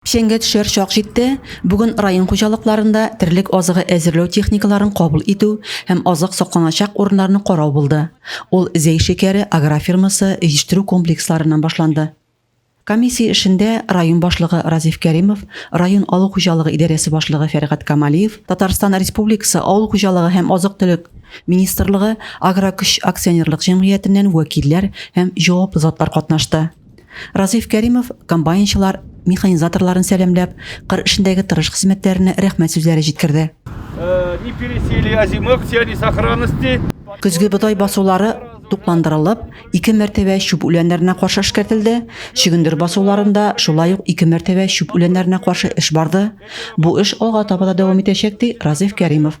Чәңгә төшәр чак җитте, бүген район хуҗалыкларында терлек азыгы әзерләү техникаларын кабул итү һәм азык сакланачак урыннарны карау булды. Ул Зәй шикәре агрофирмасы җитештерү комплексларыннан башланды. Комиссия эшендә район башлыгы Разиф Кәримов, район авыл хуҗалыгы идарәсе башлыгы Фәргать Камалиев, Татарстан Республикасы Авыл хуҗалыгы һәм азык-төлек министрлыгы Агрокөч акционерлык җәмгыятеннән вәкилләр һәм җаваплы затлар катнашты. Разиф Кәримов комбайнчылар, механизаторларын сәламләп, кыр эшендәге тырыш хезмәтләренә рәхмәт сүзләре җиткерде. Не пересели озимых, все они сохранности. Көзге бодай басулары тукландырылып, ике мәртәбә чүп үләннәренә каршы эшкәртелде. Чөгендер басуларында шулай ук ике мәртәбә чүп үләннәренә каршы эш барды. Бу эш алга таба да дәвам итәчәк, ди Разиф Кәримов.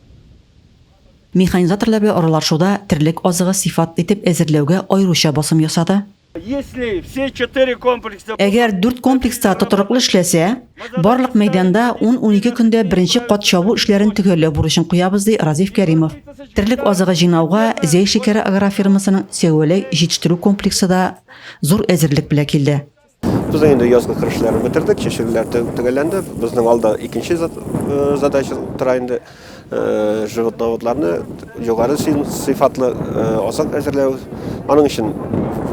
Механизаторлар белән аралашуда терлек азыгы сыйфат итеп әзерләүгә аеруча басым ясады. Әгәр дүрт комплекс та тотрыклы эшләсә, барлык мәйданда ун-унике көндә беренче кат чабу эшләрен төгәлләү бурычын куябыз, ди Разиф Кәримов. Терлек азыгы җыйнауга Зәй шикәре агрофирмасының Сәүәләй җитештерү комплексы да зур әзерлек белән килде. Без инде язгы кыр эшләрен бетердек, чәчүләр төгәлләнде. Безнең алда икенче э, задача тора инде. Э, животноводларны югары сыйфатлы э, азык әзерләү. Аның өчен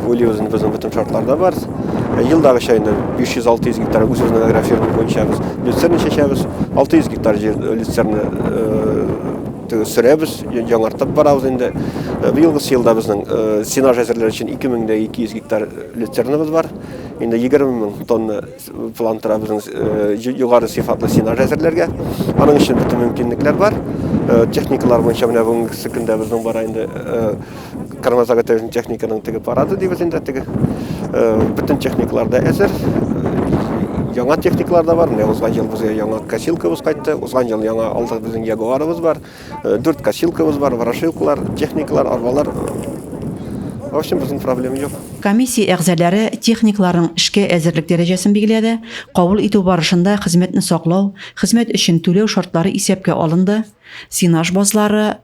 уйлыйбыз инде безнең бөтен шартларда бар. Елдагы чәйне 500-600 гектар үзебезнең агрофирма буенча без люцерна чәчәбез. 600 гектар җир люцерна сөрәбез, яңартып барабыз инде. Быелгы елда безнең сенаж әзерләр өчен 2200 гектар Люцернабыз бар. Инде 20 мең тонна план тора безнең э, югары сыйфатлы сенаж әзерләргә. Аның өчен бөтен мөмкинлекләр бар. Э, техникалар буенча менә бүгенге көндә безнең бара инде э, кормозаготовительный техниканың теге парады дибез инде теге. Бөтен техникалар да әзер. Яңа техникалар да бар. Менә узган ел безгә яңа косилкабыз кайтты. Узган ел яңа алдык безнең ягуарыбыз бар. Дүрт косилкабыз бар, ворошилкалар, техникалар, арбалар. В общем, безнең проблем юк. Комиссия әгъзаләре техникаларның эшкә әзерлек дәрәҗәсен билгеләде, кабул итү барышында хезмәтне саклау, хезмәт өчен түләү шартлары исәпкә алынды, сенаж базлары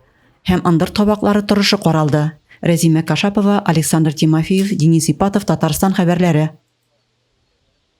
һәм ындыр табаклары торышы каралды. Рәзимә Кашапова, Александр Тимофеев, Денис Ипатов, Татарстан хәбәрләре.